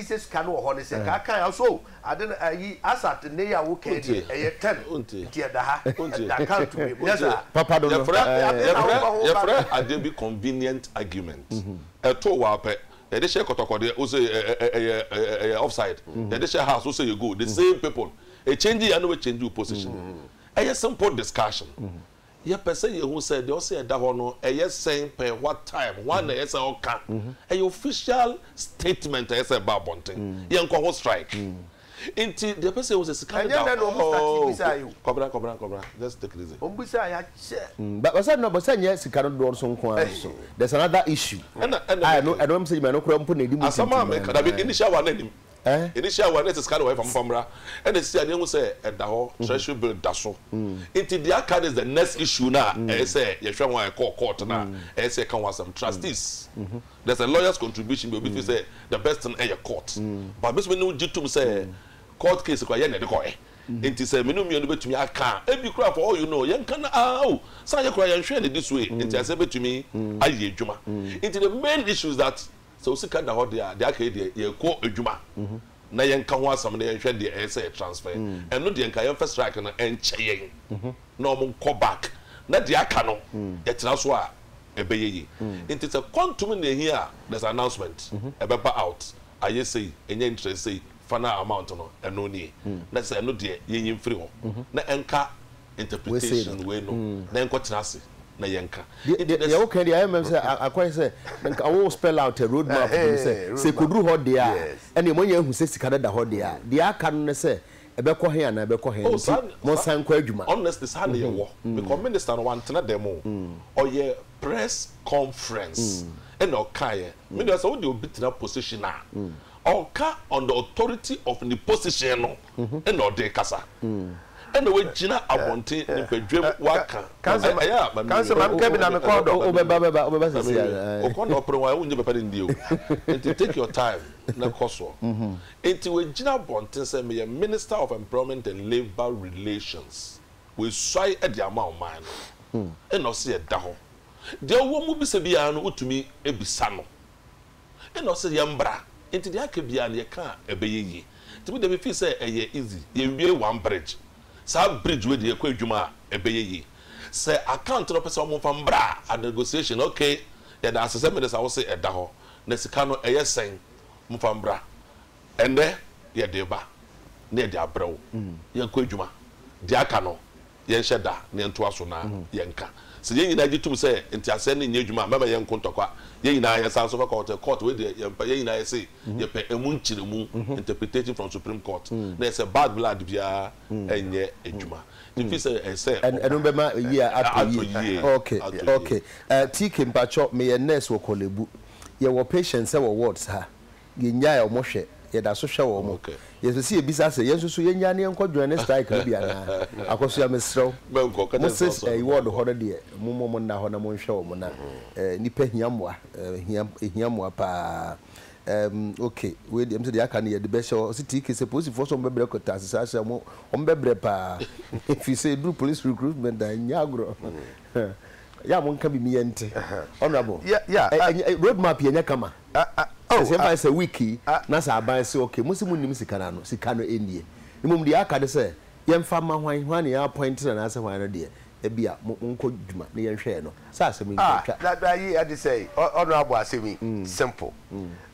sɛ sika no wɔ hɔ ne sɛ kaa kan a so ade no ayi asat nnɛyi a wo kan deɛ ɛyɛ ten nti ɛda ha ɛda kan to me nyɛ saa. Papa dodo yɛfrɛ yɛfrɛ adeɛ bi convenient argument ɛtoo wo ara pɛ yɛde hyɛ kɔtɔkɔ deɛ wo se ɛyɛ ɛyɛ offside yɛde hyɛ house wo se ɛyɛ goal the same people ɛchange yɛ na wɔ change wo position ɛyɛ simple discussion Yɛpɛ sɛ yɛhu sɛ deɛ ɔse ɛda hɔ no ɛyɛ sɛn pɛɛ, what time, hwan na ɛyɛ sɛ ɔka. Ɛyɛ official statement a ɛyɛ sɛ ɛba abɔnten. Yɛnkɔ ho strike. Nti deɛ ɛpɛ sɛ yɛhu sɛ sika no da hɔ. Ɛnyɛ nnɛ na wɔn start bisaeɛ o. Kɔbena kɔbena kɔbena just take it easy. Wɔn bisaeɛ akyɛ. But no but sɛ ɛnyɛ sika no dodoɔ so nko ara nso there's another issue a ɛno ɛno ɛno ɛno koraa mpo na ɛdi mu tintim. Asɛm a meka dabi initial one no nnim. Eh? Yɛde hyia wɔ ɛnɛ te sika ne wɔyɛ fa momfa mmra ɛna ɛsisi a ne yɛhu sɛ ɛda hɔ treasury bill da so nti deɛ aka no is the next issue no a ɛyɛ sɛ yɛhwɛ ho a ɛkɔɔ court no a ɛyɛ sɛ yɛka ho asɛm trustees there's a lawyers contribution bi obi feel sɛ the best thing ɛyɛ court but me nso me ne wo gye tom sɛ court case koraa yɛn na yɛde kɔɛ nti sɛ me ne wo mmienu bɛtumi aka a ebi koraa for all you know yɛnka no aa o sɛ anyɛ koraa yɛnhwɛɛ no this way nti asɛ bɛtumi ayɛ adwuma nti the main issue is that Sɛ wo sika da hɔ deɛ a, deɛ aka yi deɛ yɛkɔ adwuma na yɛnka ho asɛm na yɛnhwɛ deɛ ɛyɛ sɛ yɛ transfer. Ɛno deɛ nka yɛmfa strike no nkyɛ yɛn na wɔn nkɔ back na deɛ aka no yɛtena so a ɛbɛyɛ yie. Nti sɛ quantum na ɛhia a, there's an announcement ɛbɛba out ayɛ sei, ɛnya interest sei, final amount no ɛno nie. Na kyerɛ sɛ ɛno deɛ yɛnyi mfiri hɔ na ɛnka interpretation wei no na nkɔtena ase na yɛnka. Deɛ woka deɛ ayɛ mɛm sɛ akɔyɛ sɛ nka wo spell out a road map bi mu sɛ sɛ ɛkɔduru hɔ deɛ a ɛnneɛ moanya ahu sɛ sika no da hɔ deɛ a deɛ aka no ne sɛ ɛbɛkɔ he anaa ɛbɛkɔ he nti monsan nkɔ adwuma. Honestly saa na yɛwɔ because minister no wantena dɛm o, ɔyɛɛ press conference ɛna ɔkaeɛ. Medeɛ sɛ wodeɛ obi tena position a ɔnka on the authority of ne position no. na ɔde rekasa ɛna wagyina abɔnten ne badwam waka ɛyɛ a mami kansɛ mam kɛ bi na mekɔ dɔ wobɛba bɛba wobɛba sɛ sia ɔkɔ na ɔpere wɔn wonyɛ papa ne ndie o nti take your time na kɔ soɔ nti wagyina abɔnten sɛ meyɛ minister of employment and labour relations wasuae ɛde ama ɔman no ɛna ɔse ɛda hɔ deɛ ɔwɔ mu bisa biara no wotumi bisa no Ɛna ɔse yɛn mbra nti deɛ aka biaa no yɛka a ɛbɛyɛ yie nti me deɛ me feel sɛ ɛyɛ easy yɛn wie one bridge saa bridge wei deɛ yɛkɔ adwuma a ɛbɛyɛ yie sɛ account no ɔpɛ sɛ ɔmo nfa mbra a negotiation ok yɛda ase sɛ minister wose ɛda hɔ na sika no ɛyɛ sɛn mo nfa mbra ɛnɛ yɛde ba na yɛde abrɛ wo yɛn kɔ adwuma deɛ aka no yɛnhyɛ da na yɛntoa so na yɛnka. Sɛ yɛn nyinaa gye tom sɛ nteaseɛ no nyɛ adwuma a, mɛma yɛnko ntɔkwa. Yɛn nyinaa yɛsan nso fa kɔɔte, court, wei deɛ yɛmpɛ, yɛn nyinaa yɛse yɛpɛ ɛmu nkyerɛmu, interpretation from Supreme Court, na ɛsɛ bad blood biara nyɛ adwuma ɛfiri sɛ ɛsɛ ɔba. Ɛno bɛma ayie atɔ yie. Ok, ok. TK, mpakyɛw, meyɛ nurse wɔ Korle Bu. Yɛwɔ patients wɔ wards ha. Yɛnnyae wɔn hwɛ. Yɛda so hwɛ wɔn. Yɛpɛ sɛ yɛbisa sɛ, yɛn nso so yɛnnyae na yɛnkɔ Johannes Strike no bi anaa? Akosua, mesrɛ wo, mo Sixth Ward hɔ no deɛ, mommɔ mo nna hɔ na monhwɛ wɔn na nnipa hia mmoa. Ɛhia, ɛhia mmoa pa ara. Ɛɛm, oke, wei deɛ, ɛm sɛ deɛ aka no yɛde bɛhyɛ hɔ. Ɔse, TK, sɛ polisifoɔ sɛ wɔbɛbrɛ kɔ Taase saa hyɛ a, wɔn, wɔbɛbrɛ pa ara. Ɛfiri sɛ ɛduru police recruitment a, ɛnyɛ agorɔ. Yɛ a monka biribi yɛnte. Honourable, ɛ, ɛ, road map yɛ nyɛ kama. Ah ah oh Ɛsɛ ah mfa sɛ week yi ah. na sɛ aban se okay mo se mo nnim sika no ano sika no nnie mmom deɛ aka ne sɛ yɛmfa mma hwan hwan na yɛ appoint no anaasɛ hwan no deɛ ɛbia mo monkɔ dwuma na yɛnhwɛ yɛ no saa asɛm yi nti Ah atwa na na yi ɛde sɛi ɔ honourable asɛm yi simple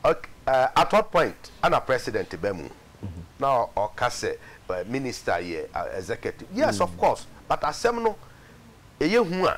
ok eh at what point ɛna president ba mu na ɔ ɔka sɛ eh minister yɛ ah executive yes of course but asɛm no ɛyɛ hu a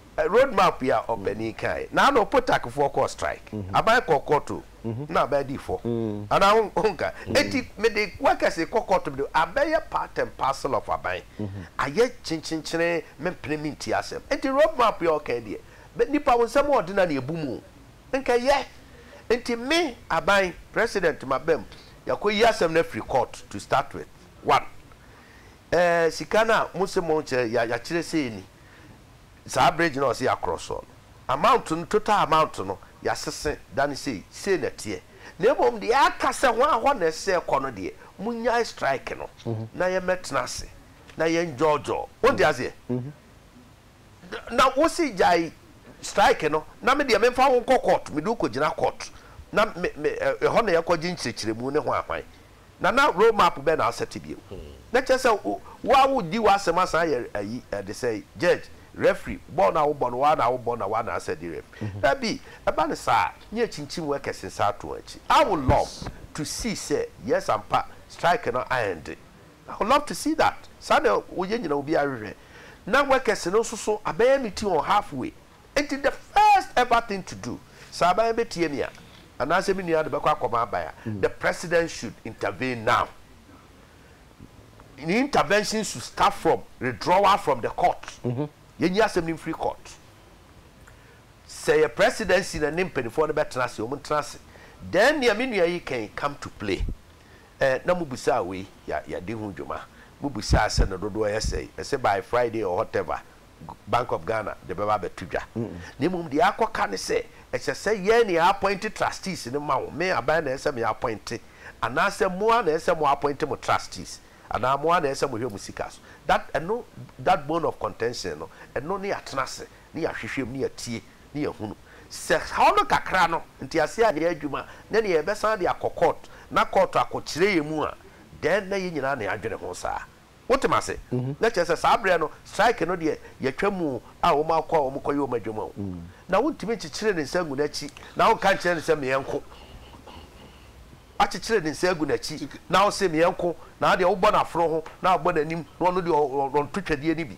Road map yi a ɔpanin kae, na ano potakfoɔ kɔɔ strike, aban kɔɔ kɔɔto na aban dii fɔ, anaa honka? Enti mede wakɛse kɔ kɔɔto mede abɛyɛ part and parcel of aban, ayɛ kyenkyenkyene mempene mentie asɛm. Enti road map yi a ɔkae deɛ, nnipa wo nsɛm a ɔde na na ɛbu mu o, nka ɛyɛ. Enti me, aban, president maba mu, yɛakɔyi asɛm no afiri court to start with, one, ɛɛ sika no a mose monkyɛ, yɛakyerɛ sei ni, saa bridge no a ɔse yɛakorɔ soɔ no amount no total amount no yɛasese dane sei, sei na ɛteɛ na mmom deɛ aka sɛ ho a hɔ na ɛsɛ ɛkɔ no deɛ monyae strike no na yɛmmɛtena ase na yɛnjɔɔjɔɔ wonte aseɛ na wose gyae strike no na medeɛ memfa wo nkɔ court mede wo kɔgyina court na me me ɛhɔ na yɛkɔgye nkyerɛkyerɛmu ne hwan hwan na na road map bɛ na asɛte bio na kyerɛ sɛ wo ara wo di w'asɛm asan ayɛ ayi ɛde sɛn judge referee bɔɔl no a wo bɔ no wo ara na wo bɔ na wo ara na asɛ de ref dabi ɛba no saa ne yɛ kyinkyin mu ɛkɛse nsa ato akyi I would love to see sɛ yes ampa strike no a ɛnde I would love to see that saa na yɛ nyina obiara hwehwɛ na wɛkɛse no nso so abɛyɛ meeting on half way. Enti the first ever thing to do, sɛ aban no bɛtie me a, anaasɛ me nua no bɛkɔ akɔma aban a, the president should intervene now. Ne intervention should start from redrawal from the court. Yɛnyi asɛm no mfiri court. Sɛ yɛ presidency na ne mpaninfoɔ no bɛtena ase, wɔn ntena ase. Then nea me nua yi kan come to play. Ɛɛ na mo busaa wei, yɛ yɛadi ho dwuma. Mo busaa sɛ ne dodoɔ yɛ sɛi. Ɛsɛ by Friday or whatever. Bank of Ghana de bɛba abɛto dwa, na mmom deɛ akɔka ne sɛ, ɛsɛ sɛ yɛn na yɛapɔinte trustees no ma wo. Me, aban na ɛsɛ sɛ meapɔinte, anaasɛ mo ara na ɛsɛ sɛ moapɔinte mo trustees, anaa mo ara na ɛsɛ sɛ mohwɛ mo sika so. That, ɛno, that bone of contention no, ɛno ne yɛatena ase, ne yɛahwehwɛ mu, ne yɛatie, ne yɛahunu sɛ haw no kakra no, nteaseɛ anyɛ adwuma, ne deɛ yɛbɛsan de akɔ court, na court akɔkyerɛ yɛn mu a, then na yɛn nyinaa na yɛadwene ho saa. Wote m'ase? Na kyerɛ sɛ saa berɛ no, strike no deɛ, yɛatwa mu o, a wɔn akɔ a wɔn kɔyɛ wɔn adwuma o. Na wontumi nkyekyere ne nsa ngu n'akyi na wonka nkyerɛ no sɛ meɛ nko. Wakyekyere ne nsa agu n'akyi na wose meɛ nko, na adeɛ wobɔ no aforo ho na wabɔ n'anim na ɔno deɛ ɔnto twɛdeɛ no bi.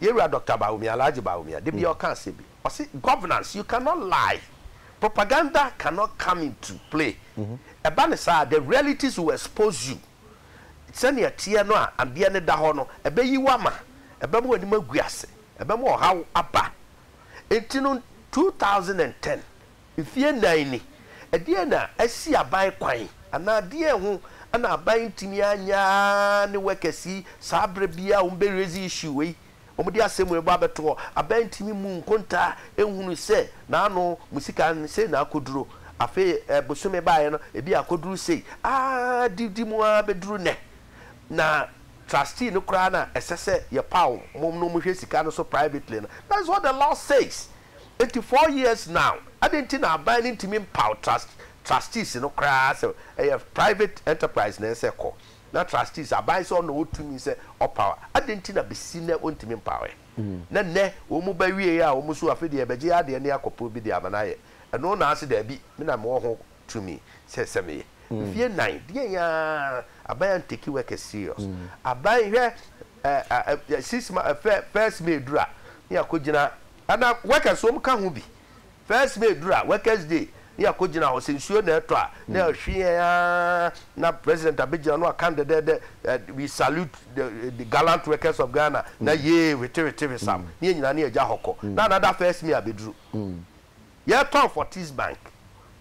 Yɛwura Doctor Bawumia, Alhaji Bawumia, da biara ɔka asɛm bi, ɔse governance you cannot lie, propaganda cannot come into play, ɛba no saa a the realities will expose you, sɛnea ɛteɛ no a adeɛ no da hɔ no, ɛbɛyi wo ama, ɛbɛma w'anim agu ase, ɛbɛma ɔhaw aba. Enti no, two thousand and ten. Mfeɛ nnan ni, ɛdeɛn na asi aban kwan anaa deɛn ho na aban ntumi anyɛ ara ne workers yi saa berɛ biara wɔn bɛ raise issue wei, wɔn de asɛm wei bɔ abɛto hɔ, aban ntumi mmu nkontaa nhunu sɛ n'ano mo sika no sei na akɔduro, afei bosome baeɛ no ebi akɔduru sei, aah di di mu ara bɛduru nnɛ, na trustee no koraa na ɛsɛ sɛ yɛpaw wɔn na wɔhwɛ sika no so privately no, that's what the law says. Enti four years now, adɛn nti na aban no ntumi mpaw trust, trustees no koraa sɛ ɛyɛ private enterprise na ɛsɛ kɔ, na trustees, aban sɛ ɔna ɔwɔ tumi sɛ ɔpaw a, adɛn nti na besi nnɛ wɔntumi mpaweɛ? Na nnɛ wɔn ba wieɛ a wɔn nso afei deɛ yɛbɛgye yɛn adeɛ ne akɔporo bi de ama no ayɛ, ɛno na ase daabi, me na mewɔ ho tumi sɛ ɛsɛ meyɛ. Mfeɛ nnan, deɛn ara, aban antake workers serious. Aban, hwɛ six months first may duru a ne yɛakɔ gyina ana workers wɔn ka ho bi first may duru a workers day ne yɛakɔ gyina hɔ sɛ nsuo na ɛtɔ a ne yɛhwe yɛn aa na president abɛgyina no aka dɛdɛdɛ we salute the, the gallant workers of Ghana na yee wetewetewesam ne yɛn nyinaa ne yɛgya hɔ kɔ na another first may abɛduru. Yɛtɔn fortis bank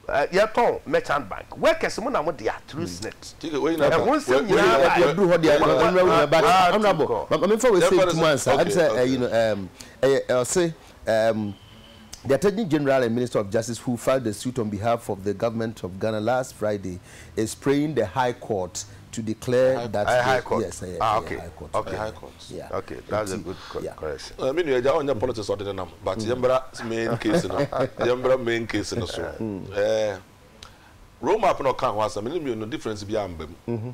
yɛtɔn merchant bank workers mo na mo dea through snit ɛho nsɛm nyinaa ba yɛ. Yɛduru hɔ deɛ ɔnura wu yɛ but honourable ma menfa wei sɛ ntum ansa ɛm sɛ ɛyi no ɛm ɛyɛ ɔse ɛm the attorney general and minister of justice who filed the suit on behalf of the government of Ghana last Friday is praying the high court to declare that the high court yes ɛyɛ ɛyɛ high court okay high court yeah okay that's a good correction ɛmi nua ɛgya ɔnyɛ politics ɔde ne nam but yɛn bra main case no yɛn bra main case no so ɛɛ road map na ɔka ho asɛm ne mmienu difference bi a mba mu.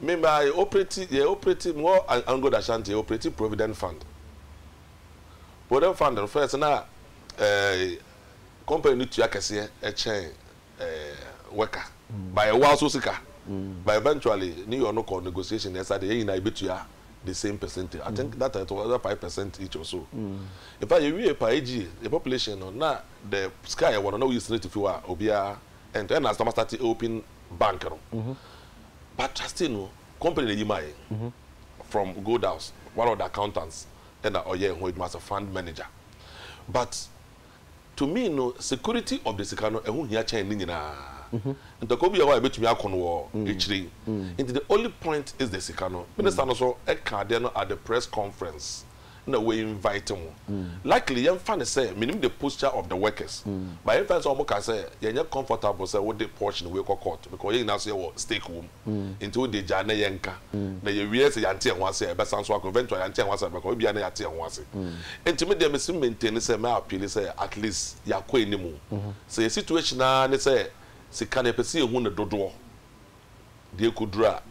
Me ma yɛ operate yɛ operate mewɔ Angola Ashanti yɛ operate provident fund provident fund no first na ɛɛ company no tua kɛseɛ ɛkyɛn ɛɛ worker by ɛwɔ aso sika by eventually ne yɛ ɔno kɔ negotiation ɛsa de yɛn nyinaa yɛbɛtua the same percentage I think that time it was five percent each or so in fact yɛwie paa AGA yɛ population no na the sika yɛwɔ no na woyi senate fi hɔ a obiara and ɛna asɛm asate open bank no but trustee no company na eyi maa yɛn from gold house one of the accountants ɛna ɔyɛ ɛho adwuma as a fund manager but to me no security of the sika no ɛho hia kyɛn ne nyinaa ntɔkwa bi yɛ hɔ a ebetumi ako no wɔ akyire yi nti the only point is the sika no minister no so ɛka adeɛ no at the press conference. na wɔ invite mo likely yɛn fa no sɛ menim the posture of the workers but yɛn fa no sɛ wɔn ka sɛ yɛn nyɛ comfortable sɛ wode portion wei kɔ court because yɛn nyinaa so yɛ wɔ stake wɔm nti wo deɛ gyaa na yɛn ka na yɛ wie sɛ yɛn te yɛn ho ase a yɛbɛ san so akɔ eventually yɛn te yɛn ho ase a yɛbɛ kɔ ebi a na yɛn ate yɛn ho ase nti me deɛ me si maintain sɛ mɛ appeal sɛ at least yɛ akɔ anim o sɛ yɛ situation ara ne sɛ sika no yɛ pɛ sɛ yɛ hu ne dodoɔ deɛ ɛkɔ duru a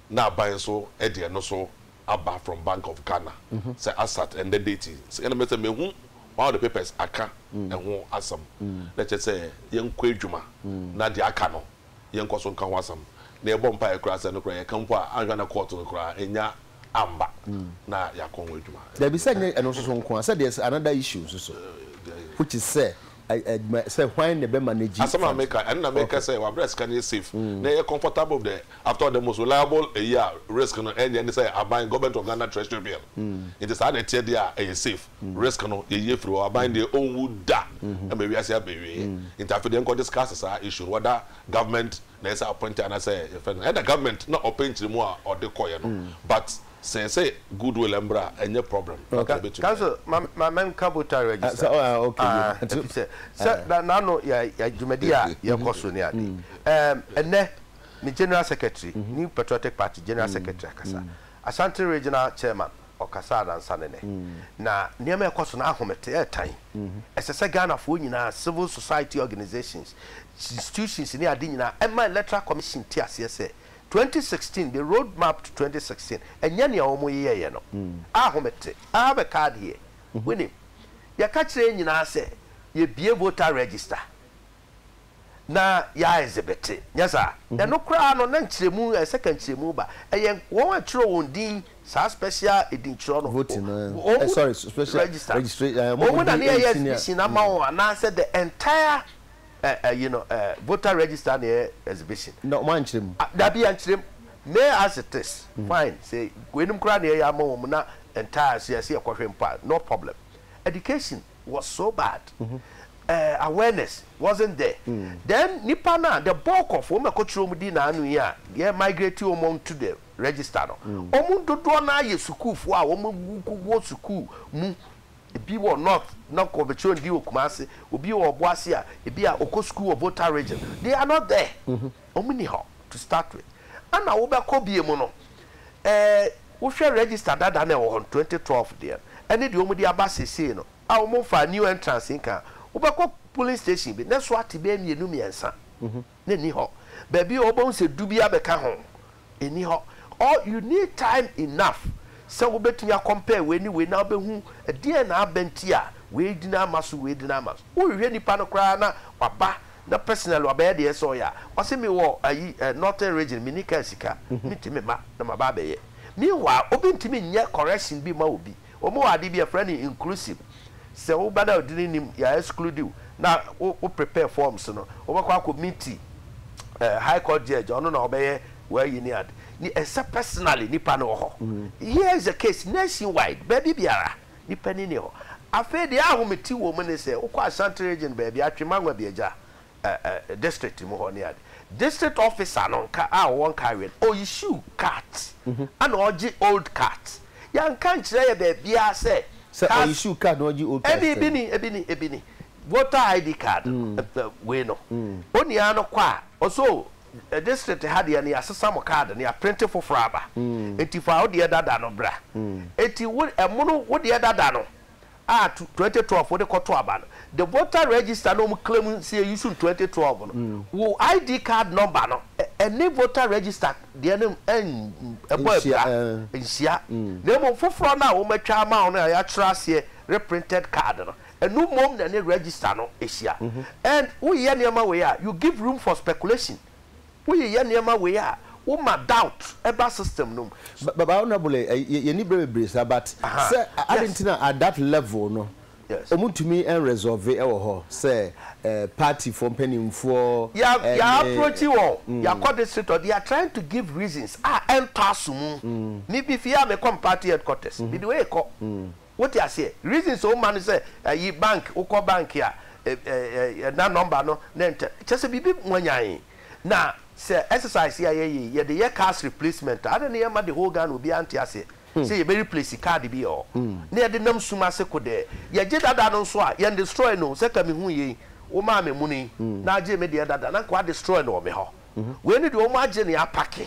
na aban nso ɛde ɛno so. aba from bank of Ghana sɛ asat ɛndɛ date yi sɛ ɛna mɛsɛ mɛhu one of the papers aka ɛho asɛm na ɛkyɛ sɛ yɛnkɔ adwuma na deɛ aka no yɛnkɔ so nka ho asɛm na yɛbɔ mpaeɛ koraa sɛ ɛno koraa yɛka mpo a anhwɛ na court no koraa ɛnya amba na yɛakɔ ho adwuma. Dabi sɛ nyɛ ɛno nso so nko a sɛ there's another issue nso so which is sɛ. adwuma sɛ hwan na ɛbɛma no agyi Asɛm a fam. meka, ɛno na meka Okay. sɛ wabrɛ sika no yɛ safe na ɛyɛ comfortable dɛ. After all the most reliable ayi a risk no ɛnyɛ ne sɛ aban, Government of Ghana Treasury bill. Nti saa na ɛteɛ deɛ a ɛyɛ safe. Risk no yɛyi afiri hɔ. Aban deɛ ɔnwu da ma wiase abɛwie. Nti afei deɛ nkɔ discuss saa issue no whether government na ɛsɛ appoint anaasɛ yɛfrɛ no dɛn. Ɛna government na ɔpɛ nkyerɛmu a ɔde kɔeɛ no but. Sɛ sɛ good will mbra a ɛnyɛ problem fata obetumi ayɛ. Council ma ma ma menka voter register no ah efisɛ sɛ na n'ano yɛ yɛ dwumadi a yɛkɔ so ne ade ɛɛm ɛnɛ me general secretary new patriotic party general secretary akasa Ashanti regional chairman ɔkasa anansa ne nɛ na nneɛma ɛkɔ so no ahomete ɛɛtan ɛsɛ sɛ Ghanafoɔ nyinaa civil society organisations institutions ne ade nyinaa ɛma electoral commission te aseɛ sɛ Twenty sixteen The Road Map to Twenty Sixteen Ɛnyɛ nea wɔyeyɛeɛ no a home te a bɛka adeɛ, wonim. Yɛka kyerɛ yɛn nyinaa sɛ yɛbue voter register na yɛ ɛzebete, nyɛ saa? Ɛno koraa no na nkyerɛmu, ɛsɛ sɛ ka nkyerɛmu ba. Ɛyɛ wɔn a ɛtwerɛ wɔn din, saa special edintwerɛ no, wɔn register wɔn na ne yɛyɛ exhibition ama wɔn anaasɛ the entire eh eh you know eh voter register na ɛyɛ exhibition. Na ɔmo ankyerɛ mu. Ah dabi yɛnkyerɛ mu me as it is fine sɛ weinom koraa na yɛyɛ ama wɔn na entire so yɛse yɛkɔhwɛ mpo a no problem education was so bad eh awareness wasn't there then nipa no a the bulk of wɔn a ɛkɔkyerɛ wɔn din na ano yi a yɛ migrate wɔn on to the register no wɔn dodoɔ no ara yɛ sukuufoɔ a wɔn wɔ sukuu mu. Ebi wɔ North na ɔkɔ ɔbɛkyerɛ wɔn din wɔ Kumasi. Obi wɔ Obuasi a, ebi a ɔkɔ sukuu wɔ Volta Region. They are not there. Wɔn nni hɔ to start with. Ɛna wobɛkɔ bie mu no, eh, wohwɛ register dada no a ɛwɔ hɔ no, twenty twelve deɛ no, ɛne deɛ wɔde aba seesei no a wɔmfaa new entrance nka a, wobɛkɔ polling station bi na ɛso ate bɛyɛ mmienu mmiɛnsa na ɛnni hɔ. Baabi a wobɛhu sɛ du bi abɛka ho nni hɔ or you need time enough sɛ wobɛtumi a compare wei ne wei na wobɛhu ɛdeɛn na aba nti a wei dini ama so wei dini ama so. Wohwehwɛ nipa no koraa na waba na personally wabɛyɛ deɛ ɛsɛ sɛ ɔyɛ a, wase mewɔ ayi eh, northern region menni car sika, mentumi mma na maba abɛyɛ. Meanwhile obi ntumi nyɛ correction bi mma obi. Wɔwɔ ade bi a yɛfrɛ no inclusive. Sɛ wo ba no a ɔde ne nim yɛ a exclude wo na wo prepare forms no, wobɛkɔ akɔ meet eh, high court judge, ɔno na ɔbɛyɛ w'ayi ne ade. Ne ɛsɛ personally nipa no wɔ hɔ. Here is a case nationwide, baabi biara nipa ni ni hɔ. Afei deɛ ahomete wɔ mu ne sɛ wokɔ Ashanti region baabi a, Twema Nwabiagya ɛɛ district mu hɔ ne ade district officer no nka a ɔwɔ nkaeɛ no ɔ issue card ɛna ɔgye old card yɛnka nkyerɛ yɛ baabiara sɛ sɛ ɔ issue card na ɔgye old card ɛne ebi ni ebi ni ebi ni voter id card no wei no onua no kɔ a ɔsɛ o district ha deɛ no yɛasesa mo card no yɛaprente foforɔ aba nti fa wo deɛ dada no bra nti wo ɛmono wo deɛ dada no. a twenty twelve wode kɔto aba no the voter register na wɔn claim sɛ yɛ use no twenty twelve no wo ID card number no ɛne voter register deɛ no ɛbɔ abira nhyia na mmom foforɔ no a wɔn atwa ama wo no a yɛakyerɛ aseɛ reprinted card no ɛno mmom na ɛne register no hyia and wo yɛ nneɛma wei a you give room for speculation Woyeyɛ nneɛma wei a woma doubt ba system no mu. But but honourable yɛ yɛni brɛ bebree saa but sɛ adi nti na at that level no wɔn ntumi resolve ɛwɔ hɔ sɛ party foɔ mpanyinfoɔ ɛne. Yɛ approach wɔn yɛ akɔ district hɔ they are trying to give reasons a ɛntɔ aso mu me bi fie a me kɔ me party headquarters me de wei kɔ Wote aseɛ? Reason sɛ woma no sɛ ayi bank, wokɔ bank a ɛ-ɛ-ɛ-ɛ na number no ne ntɛ, kyerɛ sɛ biribi mwanyan. Na sɛ exercise yi a yɛyɛ yi, yɛde yɛ cars replacement a, adɛn ne yɛmma the whole Ghana obiara nte aseɛ sɛ yɛbɛ replace card bi ɔ? Ne yɛde nam sum ase kodɛɛ. Yɛgye dada no nso a, yɛn destroy no o, sɛ ka mehuu yei, womaa me muni yi, na agyee me deɛ dada, na nka wɔadestroy no wɔ me hɔ. Wei ne deɛ wɔn agye ne apake.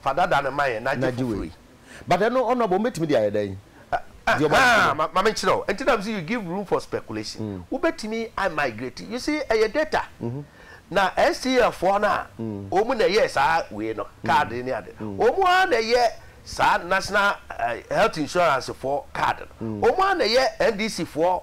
Fa dada no ma yɛn na gye foforo yi. But ɛno ɔno abom bɛtumi de ayɛ dɛn? Deɛ ɔba no so no. Ma menkyerɛ wo. Nti na mese you give room for speculation. Wobɛtumi a migrate. You see, ɛyɛ data. Na STF foɔ no a, wɔn na ɛyɛɛ saa wei no, card ne ade no. Wɔn ara na ɛyɛ saa National Health Insurance foɔ card no. Wɔn ara na ɛyɛ NDC foɔ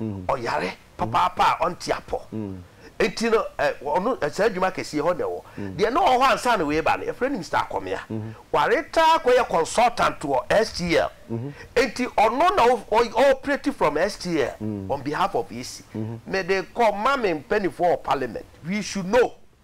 ɔyare papaapa a ɔnte apɔ. Enti no, ɛ, ɔno, saa adwuma kɛse yi, ɛhɔ na ɛwɔ. Deɛ na ɔwɔ hɔ ansa na wei reba no, yɛfrɛ no Mister Akɔmea. Waretire akɔyɛ consultant wɔ STL. Enti ɔno na ɔ, ɔ, ɔɔprɛti from STL on behalf of EC. Mede kɔ ma me mpaninfoɔ wɔ Parliament. We should know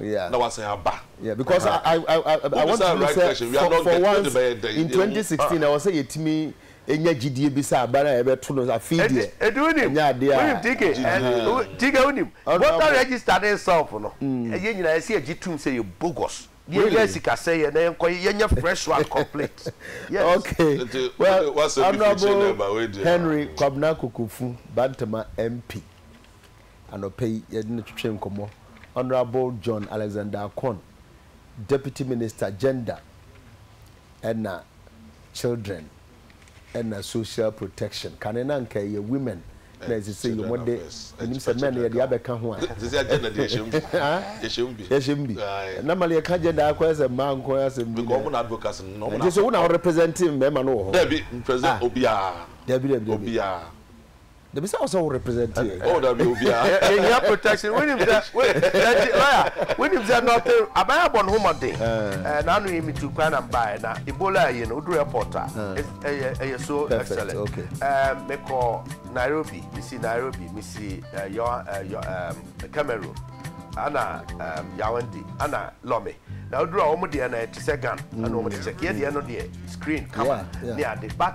Yeah. na wasan aba. Yeah, because uh -huh. I, I, I, I want to right say, for, for, for once in 2016, I was saying, it me, enya gyidie bi sɛ abara a ɛbɛto no afei deɛ ɛdi wonim ɛnyɛ adeɛ a wonim tike tike wonim voter register ne self no ɛyɛ nyinaa ɛsɛ yɛ gye tum sɛ yɛ bogus yɛnya sikasɛ yɛ na yɛnkɔ yɛnyɛ fresh one complete yes okay well honorable henry kwabena kokofu bantama mp anɔpa yi yɛde no twetwee nkɔmmɔ. Honourable John Alexander Akorn, Deputy Minister, Gender ɛna Children ɛna Social Protection. Kane no anka ɛyɛ Women na ɛsɛ sɛ yɛ wɔn de, menim sɛ Men yɛde abɛka ho a. Yɛhyɛ mu bi. Na ma yɛka Gender ara kɔyɛ sɛ mmaa nko ara asɛm bi na. Ɛnte sɛ wo na wo represent mmarima no wɔ hɔ? Daabi, dabi dabi. Dabi sɛ ɔsɛ wo represent yɛ. Oh dabi obia yɛ hia protection wonim sɛ judge lawyer wonim sɛ nothing aban abɔ ne ho mmɔden eh na ano yi me tu kwan na mbaɛ na Ebola ayi no oduru airport a ɛyɛ ɛyɛ so excellent eh me kɔ Nairobi me si Nairobi me si eh yɔ eh yɔ eh Cameroon ana eh Yaoundé ana Lome na oduru a wɔn deɛ na ɛte sɛ gun ana wɔn de check yɛ deɛ no deɛ screen camera ne ade but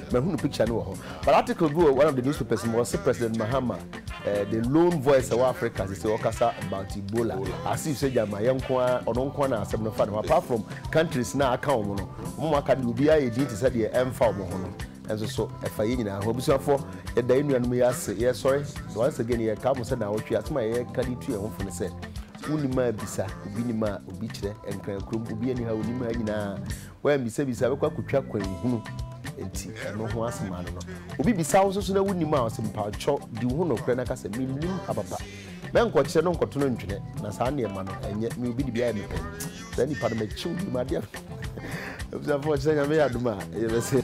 Mahunu picture no wɔ hɔ but article bi wɔ one of the newspapers mu ɔse President Mahama eh, the lone voice ɛwɔ Africa sese ɔkasa about Ebola as if sɛ gyama yɛ nko ara ɔno nko ara na asɛm no fa ne ho apart from countries na aka wɔn no wɔn aka no deɛ obiara yɛ din te sɛ deɛ ɛmfa wɔn ho no nso so ɛfa yɛ nyinaa ho abusuafoɔ yɛda yɛ nuanom yi ase yɛsɔre so once again yɛka mo sɛ na awɔtwe asɛm a yɛka de tu yɛn ho fo no sɛ wonim a bisa obi nim a obi kyerɛ nkran kurom obi ani ha onim ha nyinaa woammisabisa bɛkɔ akotwa kwan hunu nti ɛno ho asem ano no obi bisa wo nso so na wonim a ɔsɛ mpakyɔ di wo ho nɔkorɛ na ka sɛ mennim papapa mɛnkɔkyerɛ no nkɔto no ntwene na saa nneɛma no ɛnyɛ me obi de bi ayɛ mepɛ nti saa nipa no makyiw bi madeɛ abusuafoɔ ɔkyerɛ nyame yɛ adom a ɛyɛ bɛsɛ